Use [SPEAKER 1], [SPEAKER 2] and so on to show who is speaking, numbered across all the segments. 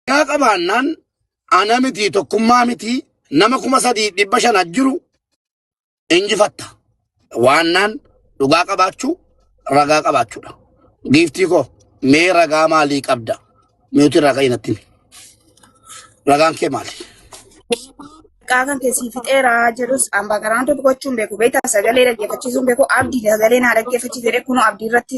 [SPEAKER 1] Yaa qabaannaan ana miti tokkummaa miti nama kuma sadii dhibba shan ajjiru injifatta. Waannaan dhugaa qabaachuu ragaa qabaachuudha. Giiftii koo mee ragaa maalii qabda? Miuti ragaa inatti himi. Ragaan kee maali?
[SPEAKER 2] Maqaa kan keessii fixeera jedhus ambaa garaan tokko gochuun beeku beektaa sagalee dhaggeeffachiisuun beeku abdii sagalee naa dhaggeeffachiise jedhee kunoo abdii irratti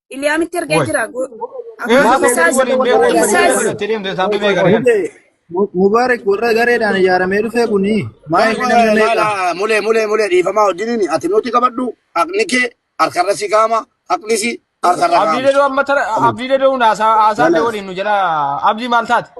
[SPEAKER 3] Iliyaamitti
[SPEAKER 2] ergee Woy. jira. Go- Ee, Akkuma Maaf isaas waliin beeku waliin isaas beeku walitti deemte isaan
[SPEAKER 4] bibee gara kana. Mubaarak warra gareedhaan ijaaramee dhufee kuni maa inni namni Mala meeqa? mala mule mule
[SPEAKER 1] mule dhiifamaa wajjiniin ati nuti qabadhu haqni kee harkarra si kaama haqni si harkarra kaama. Abdiilee doo amma tara
[SPEAKER 3] abdiilee doo haasaa haasaa Mala. waliin nu jala abdii maal taate?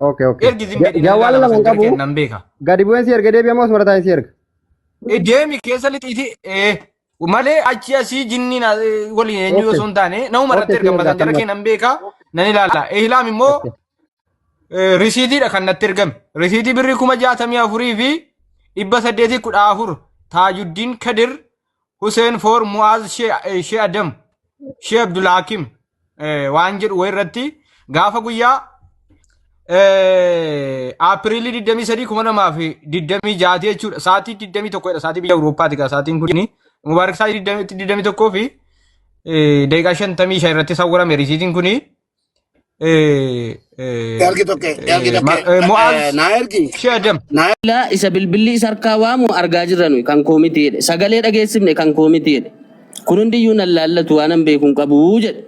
[SPEAKER 3] Okay, okay. Ergi
[SPEAKER 5] zim Ja- jedhii Jawwaala
[SPEAKER 3] ilaalama lama hin sentiri qabu. kenna hin beeka. Gadi bu'een si erga deebi'amoo
[SPEAKER 5] osuma taa'in si erga. Eh, Deemi
[SPEAKER 3] keessa lixiiti eh, malee achi asii jinnii na- eh, waliin eenyu Okay. osoo hin taane nama irratti Okay, erga si erga masantira kanuma. kenna hin beeka nan ilaala. Ihlaam immoo Okay. eh, risiitiidha kan natti ergame. Risiitii birrii kuma jaatamii afurii fi dhibba saddeetii kudha afur taajuddiin kadir Huseen Foor Mu'aaz Shee Adam Shee Abdul Hakim waan jedhu wayirratti gaafa guyyaa Aapiriilii 23 2026 jechuudha. Sa'aatii 21 dha. Sa'aatii biyya Awurooppaati gaa sa'aatiin kun. Mubaarak sa'aatii 21 fi daqiiqaa 55 irratti sawwarame risiitiin kun Ergi tokkee, ergi tokkee. Eh, Mo'aaz.
[SPEAKER 6] Eh, Naa ergi. Shee Adam. Naa Bilbilaa isa bilbilli isa harkaa waamu argaa jirra nuyi kan koo miti jedhe. Sagalee dhageessifne kan koo miti jedhe. Kun hundiyyuu nan laallatu waan an beeku hin qabu jedhe.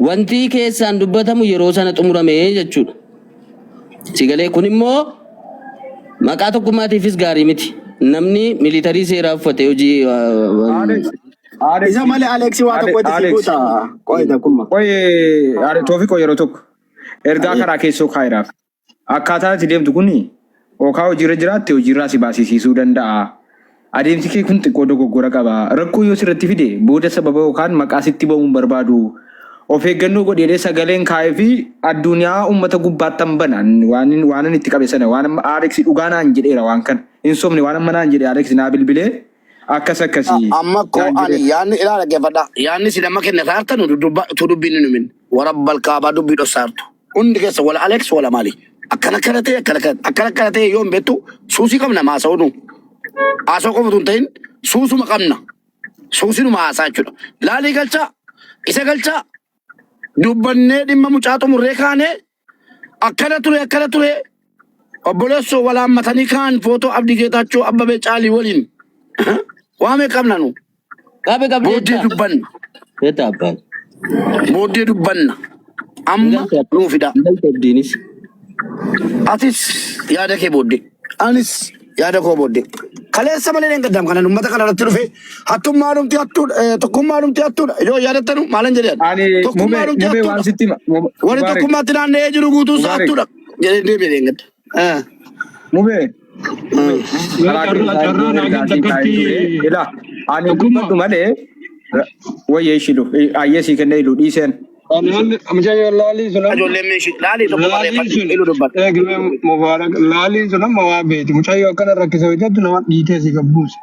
[SPEAKER 6] Wanti keessaan dubbatamu yeroo sana xumurame jechuudha. Sagalee kun immoo maqaa tokkummaatiifis gaarii miti. Namni miliitarii seeraa uffate hojii uh, Alex,
[SPEAKER 4] Aare Isa malee Aleeksii waa Aare tokko itti si Alex guuta. Qo'ee takkumma. qoye aare
[SPEAKER 7] toofiqoo yeroo tokko ergaa Ayyee. karaa keessoo kaayiraaf akkaataa itti deemtu kuni okaa hojiirra jiraatte hojiirraa si baasisiisuu danda'a. Adeemsi kee kun xiqqoo dogoggora qaba. Rakkoo yoo sirratti fide booda sababa yookaan maqaa sitti ba'uu hin barbaadu. Of eeggannoo godheedhee sagaleen kaa'ee fi addunyaa uummata gubbaattan bana waan waanan itti qabe sana waan amma Alex dhugaa naan jedheera waan kana hin sobne waan amma naan jedhe Alex naa bilbilee Akkas akkasi. Amma koo Naan ani
[SPEAKER 1] jedhees. yaanni ilaa dhaggeeffadha. Yaanni isin amma kenna saartan dudubba tu dubbiin hin himin. Warabbal kaabaa dubbii dhossaartu. Hundi keessa wala Alex wala maali. Akkana akkana ta'e akkana akkana akkana akkana ta'e yoo hin beektu suusii qabna maasa'uu nu. Haasa'uu qofa tun ta'in suusuma qabna. Suusinuma haasaa jechuudha. Laalii galchaa isa galchaa dubbannee dhimma mucaa xumurree kaanee akkana ture akkana ture obboleessoo wal haammatanii kaan footoo Abdii Geetaachoo Abbabee Caalii waliin waamee qabna nu Qabe qabde booddee
[SPEAKER 6] jetta. dubbanna Jetta abbaan. booddee
[SPEAKER 1] dubbanna amma Ingalcha- nuu fidaa Ingalcha abdiinis. atis yaada kee booddee. Anis yaada koo booddee. Kaleessa malee dheengaddaam kanan uummata kana irratti dhufe hattummaa dhumti hattuudha eh, tokkummaa dhumti hattuudha yoo yaadattanu maalan jedhan Ani tokkummaa mubee dhumti mubee
[SPEAKER 7] waan hattuudha
[SPEAKER 1] sitti hima. Mu-
[SPEAKER 7] warri Mubaarik tokkummaatti
[SPEAKER 1] naanna'ee jiru guutuu isaa Mubaarik hattuudha jedhee deebi'e dheengadda. Eh, mubee eh.
[SPEAKER 7] mubee Mee karaa kee carraa isaa carraa iddoo naa ergaa kenna sii taa'ee akkatti ture ilaa ani tokkummaa dubbadhu malee ra- wayya ishilu ayyee sii kennee ilu dhiiseen. Laali amja yo laali sunan
[SPEAKER 1] Ijoolleen meeshii laalii tokko laali barreeffadhu sun ilu dubbadhu. eegle
[SPEAKER 8] mubarak laali sunan ma waa beeti mucaa yo akkana rakkisa hojjattu nama dhiitee si gabbuusa.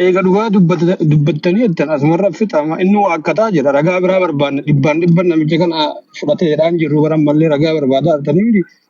[SPEAKER 8] Eega dhugaa dubbata- dubbattanii jettan asumarra fixama inni waa akkataa jira ragaa biraa barbaanna dhibbaan dhibban namicha kana fudhatee jedhaan jirru bara ammallee ragaa barbaadaa artanii miti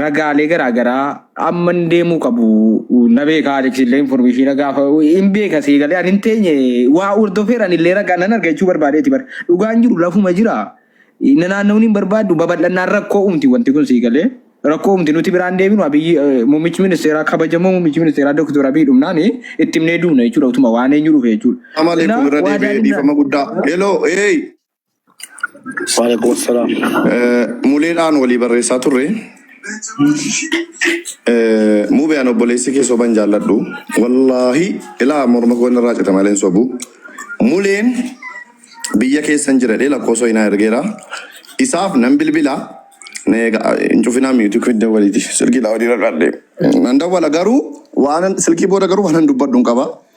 [SPEAKER 7] ragaalee garaa garaa amma hin deemuu qabu na beeka Alex illee informeeshiina gaafa hin beeka sii galee ani hin teenye waa hordofeera ani illee ragaa nan arga jechuu barbaadeeti bar dhugaan jiru lafuma jira na naanna'uun hin barbaaddu babal'annaan rakkoo uumti wanti kun sii galee rakkoo uumti nuti biraan deebinu abiyyi muummichi ministeeraa kabajamoo muummichi ministeeraa doktor abiy dhumnaan itti himnee duuna jechuudha utuma waan eenyu dhufe jechuudha. Amale Kanaaf kun irra waa deebi'ee
[SPEAKER 9] daadhinaa dhiifama guddaa. Hello, hey,
[SPEAKER 1] Waalaikum assalam. Eh, Muleedhaan
[SPEAKER 9] walii barreessaa turre. Eh, Mube an obboleessi kee soban jaalladhu. Wallaahi ilaa morma koo inni irraa cita malee hin sobu. Muleen biyya keessan jira jedhee lakkoofsa hinaa ergeera. Isaaf nan bilbila. Na eega hin cufinaa miitii kun dawwaliiti. Silkii daawwaliirra dhaadhee. Nan dawwala garuu waan silkii booda garuu waan hin dubbadhu hin qaba.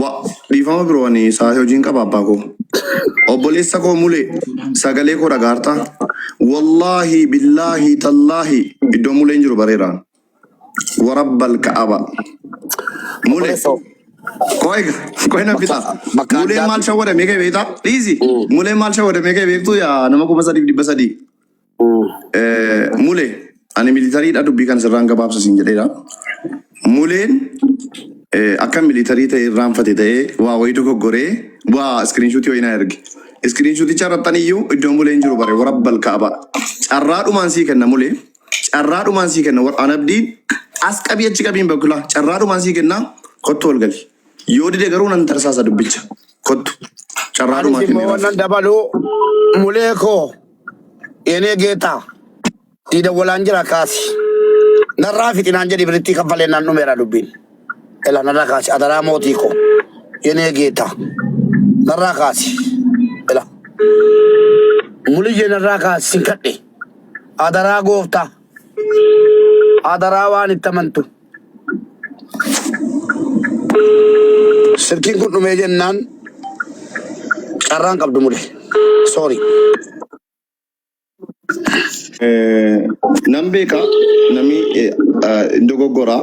[SPEAKER 9] Wa- Dhiifama biroo ani isaa hojiin qaba abbaa koo. Obboleessa koo mule sagalee koo dhagaarta. Wallaahi billaahi tallaahi iddoo muleen jiru bareera. Warabbal ka'aba. Mule Obboleessa koo. koi koi na fita. Bakka- bakka Muleen addaatti- maal shawwadamee kee beektaa? Dhiisi. Mm. Muleen maal shawwadamee kee beektuu yaa nama kuma sadiif dhibba sadii. Mule ani militariidha dubbii kan sirraan gabaabsa siin jedheera. Muleen akka militarii ta'e irraanfate ta'ee waa wayii dogoggoree waa iskiriinshuutii wayii na erge. Iskiriinshuuticha irrattan iyyuu iddoo muleen jiru bare warra balkaaba. Carraa dhumaan sii kenna mulee. Carraa dhumaan sii kenna warra anabdiin as qabii achi qabiin bakulaa. Carraa dhumaan sii kenna kottu wal gali. Yoo dide garuu nan tarsaasa dubbicha. Kottu. Carraa Anis dhumaa immoo kenneeraaf. wannan dabaluu
[SPEAKER 1] mulee koo Yenee geetaa sii dawwalaan jira kaasi. Narraa fixinaan jedhi birittii kaffalee naan dhumeera dubbiin. Ela narraa kaasi adaraa mootii koo. Yenee geetaa narraa kaasi. Ela muliyyee narraa kaasi sin kadhe. Adaraa gooftaa. Adaraa waan itti amantu. Silkiin kun dhumee jennaan carraan qabdu mule. Sorry.
[SPEAKER 9] Nan beeka namni hin dogoggora.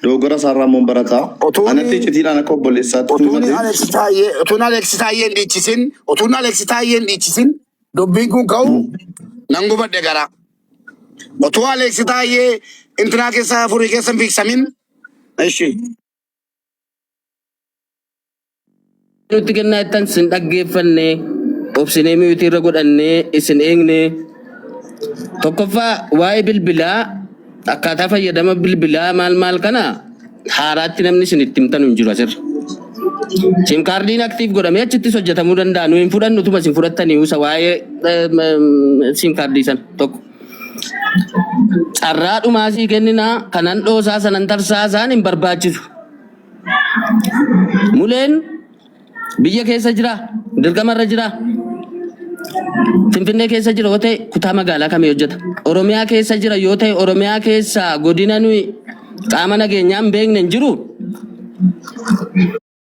[SPEAKER 9] Dogoggora isaarraa immoo barata. Otuuni- Anatti icitiidhaan akka obboleessaatti Otuun tuumate. Aleeksi
[SPEAKER 1] Taayyee otuun Aleeksi Taayyee hin dhiichisin otuun Aleeksi Taayyee hin dhiichisin dubbiin kun ka'u nan gubadhe garaa. Otuu Aleeksi Taayyee intinaa keessaa furii keessa hin fiigsamin. Ishi.
[SPEAKER 6] nutti kennaa jettan sin dhaggeeffanne obsinee miyuutii irra godhannee isin eegne tokkoffaa waa'ee bilbilaa akkaataa fayyadama bilbilaa maal maal kana haaraatti namni isin itti himtanu hin jiru asirra. Sim kaardiin aktiif godhamee achittis hojjetamuu danda'a. Nu hin fudhannu utuma isin fudhattanii usa waa'ee sim kaardii sana tokko. Carraa dhumaa sii kenninaa kanan dhoosaa sanan tarsaasaan hin barbaachisu. Muleen Biyya keessa jira, dirqama irra jira. Finfinnee keessa jira yoo ta'e kutaa magaalaa kamii hojjeta? Oromiyaa keessa jira yoo ta'e Oromiyaa keessa godina nuyi qaama nageenyaa hin beekne hin jiru?